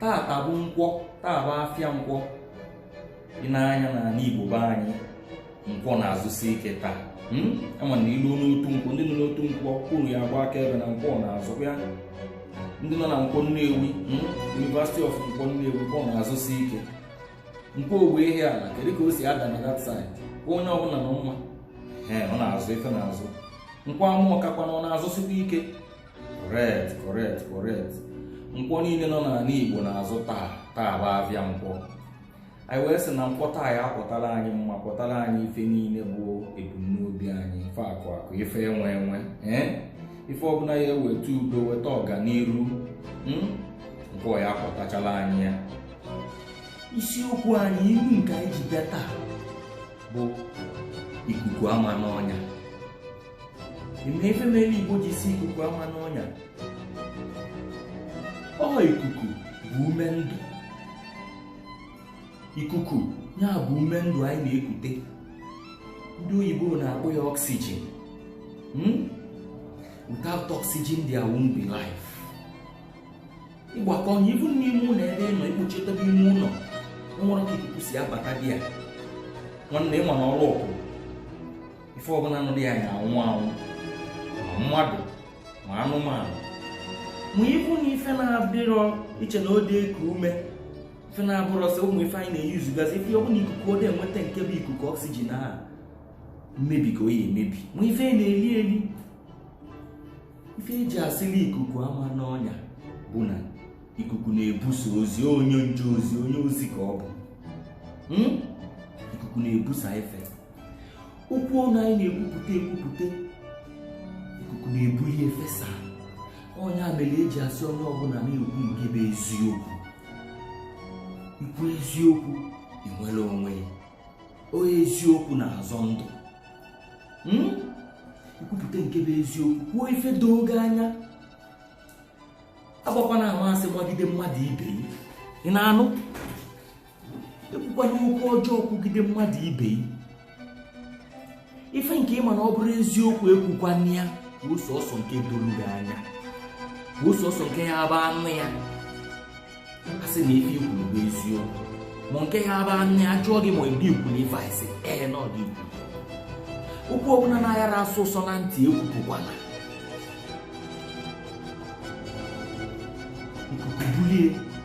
tata bụ nkwọ taa bụ afịa nkwọ ị na-anụ ya n'ala Igbo be anyị nkwọ na-azụsi ike taa hmm? ama na i luo n'otu nkwọ ndị nọ n'otu nkwọ kwuru ya agba akaebe na nkwọ na-azụkwa ya ndị nọ na nkwọ Nnewi hmm? University of nkwọ Nnewi nkwọ na-azụsi ike nkwọ Ogbe Ihiala kedu ka o si ada na that side onye ọbụla nọ mma ọ na-azụ ife na-azụ nkwọ Amorka kwanụ ọ na-azụsikwa ike correct correct correct nkwọ niile nọ n'ala igbo na-azụ taa taa bụ afịa nkwọ anyị wee sị na nkwọ taa ya akwọtara anyị mma kwọtara anyị ife niile bụ ebumnobi anyị ife akụ akụ ife enwe enwe ee ife ọbụla ya eweta udo weta ọganiru hmm? nkwọ ya akwọtachala anyị ya isiokwu anyị ilu nke anyị ji bịa taa bụ ikuku ama n'ọnya ife mere igbo ji sị ikuku ama n'ọnya ọ ikuku bụ ume ndụ ikuku ya bụ ume ndụ anyị na-ekute ndị oyibo na-akpọ ya oxygen hmm? without oxygen there won't be life ịgbakọ ọnya ibu n'ime ụlọ ebe ị nọ ikpochitebe ime ụlọ enwerọ ka ikuku si abata dị ya nwanne ịma na ọrụ ọkụ ife ọbụla nọ dị ya ya anwụ anwụ ma mmadụ ma anụmanụ ma ịbụ na ife na-abụrọ iche na ode eku ume ife na-abụrọ sị ụmụ ife anyị na-eyuzugazi ife ọbụla ikuku ode enweta nke bụ ikuku oxygen a mmebi ka ọ ya emebi ma ife na-eli eli ife eji asịla ikuku ama n'ọnya bụ na ikuku na-ebusa ozi onye nje ozi onye ozi ka ọ bụ Hmm? ikuku na-ebusa ife okwu ọnụ anyị na-ekwupụta ekwupụta ikuku na-ebuli efesa ọ nya mere eji asị onye ọbụla na-ekwu nke bụ eziokwu ikwu eziokwu inwere onwe gị onye eziokwu na-azọ ndụ Hmm? ikwupụta nke bụ eziokwu kwuo ife doro gị anya agbakwana ama asị gbagide mmadụ ibe gị ị na-anụ ekwukwana okwu ọjọọ kwugide mmadụ ibe gị ife nke ịma na ọ bụrọ eziokwu ekwukwana ya kwuo sọsọ nke doro gị anya kwuo sọsọ nke ya abụ anụ ya a sị na ife ikwuru bụ eziokwu ma nke ya abụ anụ ya jụọ gị ma ọ bụ ikwuru ife a ị sị ee na ọ gị kwu okwu ọbụla na-ayarọ asọ ụsọ na ntị ekwupụkwana ikuku bulie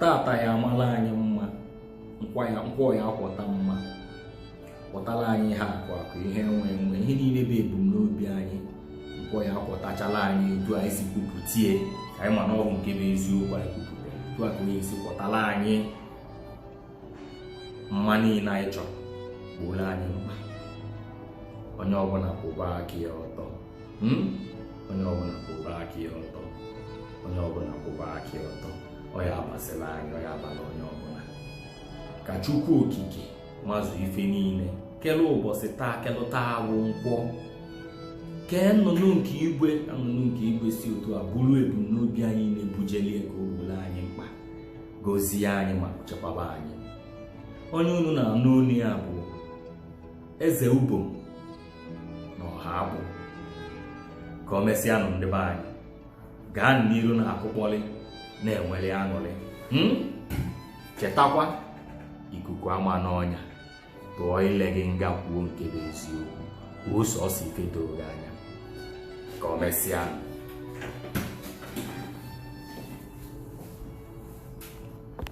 tata ya amala anyị mma nkwọ ya akwọta mma kwọtala anyị ihe akụ akụ ihe enwe enwe ihe niile bụ ebumnobi anyị nkwọ ya akwọtachala anyị otu anyị si kwupụtie anyị ma na ọ bụ nke bụ eziokwu anyị kwupụtara otu a ka ọ ya esi kwọtala anyị mma niile anyị chọrọ gbooro anyị mkpa onye ọbụla kwụba aka ya ọtọ hmm? onye ọbụla kwụba aka ya ọtọ onye ọbụla kwụba aka ya ọtọ ọ ya amasịla anyị ọ ya abala onye ọbụla ka chukwu okike mazụ ife niile kele ụbọchị taa kelu taa wụ nkwọ kee nnụnụ nke igwe nnụnụ nke igwe si otu a buru ebumnobi anyị na-ebujelie ka o gbooro anyị mkpa gozie anyị ma chekwaba anyị onye unu na-anụ olu ya bụ eze ubom na ọha abụ ka o mesịanụ ndị be anyị gaa n'iru na akụkpọlị na-enweli aṅụrị hmm? chetakwa ikuku ama n'ọnya tụọ ile gị nga kwuo nke bụ eziokwu kwuo sọsọ ife doro gị anya ka ọ mesịa